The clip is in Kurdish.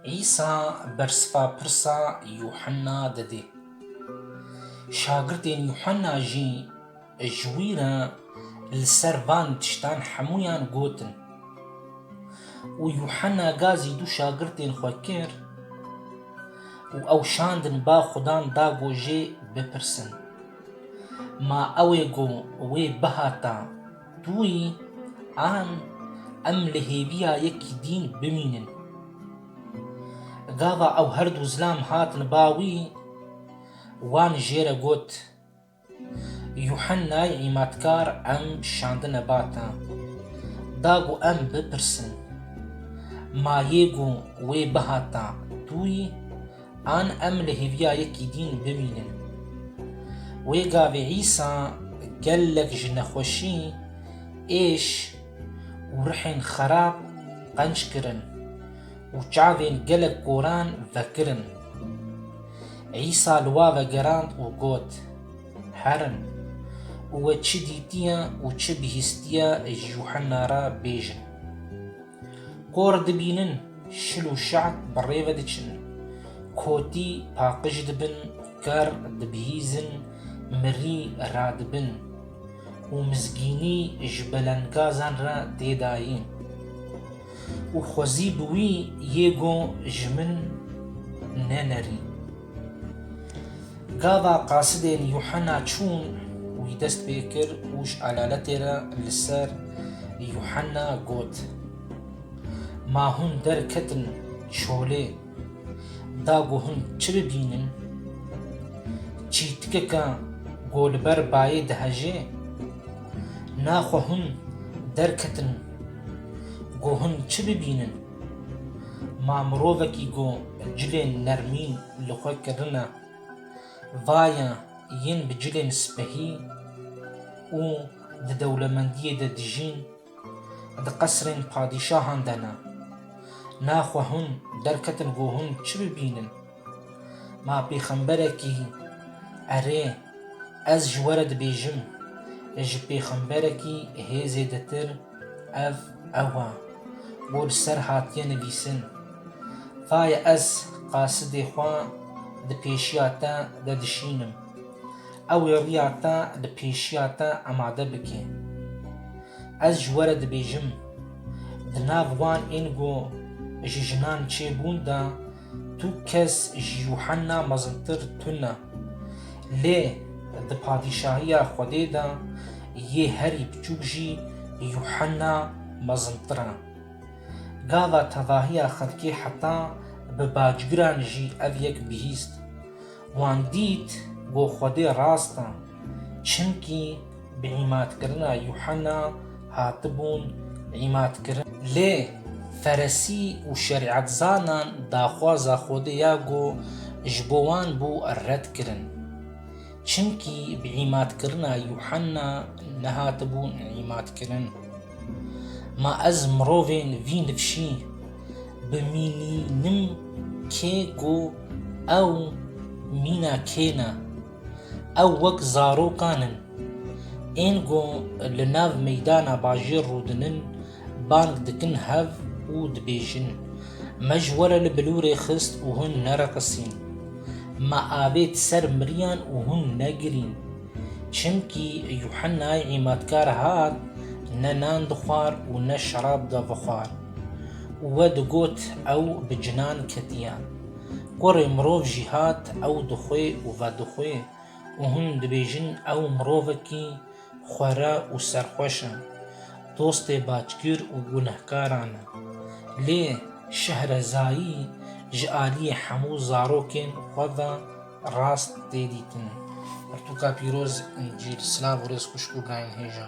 Îsa bersiva pirsa Yuhanna dide. Şagirdên Yuhanna jî ji wî re li ser van tiştan hemûyan gotin. Û Yuhanna gazî du şagirdên xwe kir û ew şandin ba Xudan da ku jê bipirsin, Ma ew ê ku wê bihata Dûyî an em li hêviya yekî dîn bimînin. Gava ew her du zilam hatin ba wî, wan jê re got, Yuhennayê Îmatkar em şandine ba te. Da ku em bipirsin, Ma yê ku wê bihata dûyî An em li hêviya yekî dîn bimînin. Wê gavê Îsa gelek ji nexweşî, êş û rihên xerab qenc kirin û çavên gelek koran vekirin. Îsa li wa vegerand û got, Herin û we çi dîtiye û çi bihîstiye ji Yuhena re bêjin. Kor dibînin şil û şeht bi rê ve diçin, kotî paqij dibin, ker dibihîzin, mirî radibin û mizgînî ji belendgazan re tê dayî. Û xwezî bi wî yê got ji min nenerî. Gava qasidên Yuhena çûn wî dest pê kir û ji alaletê re li ser Yuhena got, Ma hûn derketin çolê da ku hûn çi bibînin? Çîtikeke ku li ber bayê dihejê? Naxwe hûn derketin ku hûn çi bibînin? Ma mirovekî ku cilên nermî li xwe kirine, vaye yên bi cilên spehî û di dewlemendiyê de dijîn, di qesrên padîşahan de ne. Naxwe hûn derketin ku hûn çi bibînin? Ma pêxemberekî hî? Erê, ez ji we re dibêjim, ji pêxemberekî hê zêdetir ev ew e, ku li ser hatiye nivîsin, Tayê ez qasidê xwe di pêşiya te de dişînim, ew ê riya te li pêşiya te amade bike. Ez ji we re dibêjim, di nav wan ên ku ji jinan çêbûn de, Tu kes ji Yuhanna mezintir tune. Lê di padîşahiya Xwedê de yê herî biçûk jî Yuhanna mezintir e. Gava tevahiya xelkê heta bi bacgiran jî ev yek bihîst. Wan dît ku Xwedê rast e, çimkî bi îmadkirina Yuhena hatibûn îmadkirin. Lê Feresî û şerîetzanan daxwaza Xwedê ya ku ji bo wan bû red kirin, çimkî bi îmadkirina Yuhena nehatibûn îmadkirin. Ma ez mirovên vî nifşî bimînînim kê ku ew mîna kê ne. Ew wek zarokan in. Ên ku li nav meydana bajêr rûdinin bang dikin hev û dibêjin, Me ji we re li bilûrê xist û hûn nereqisîn. Me avêt ser miriyan û hûn negirîn. Çimkî Yuhennayê Îmatkar hat, ne nan dixwar û ne şerab da vixwar. Û we digot, ew bi cinan ketiye. Kurê mirov jî hat, ew dixwe û vedixwe û hûn dibêjin ew mirovekî xwera û serxweş e, dostê backir û gunehkaran e. Lê Şehrezayî ji aliyê hemû zarokên xwe ve, Rast tê dîtin. Pirtûka pîroz Încîl. Silav û rêz xwişk û birayên hêja.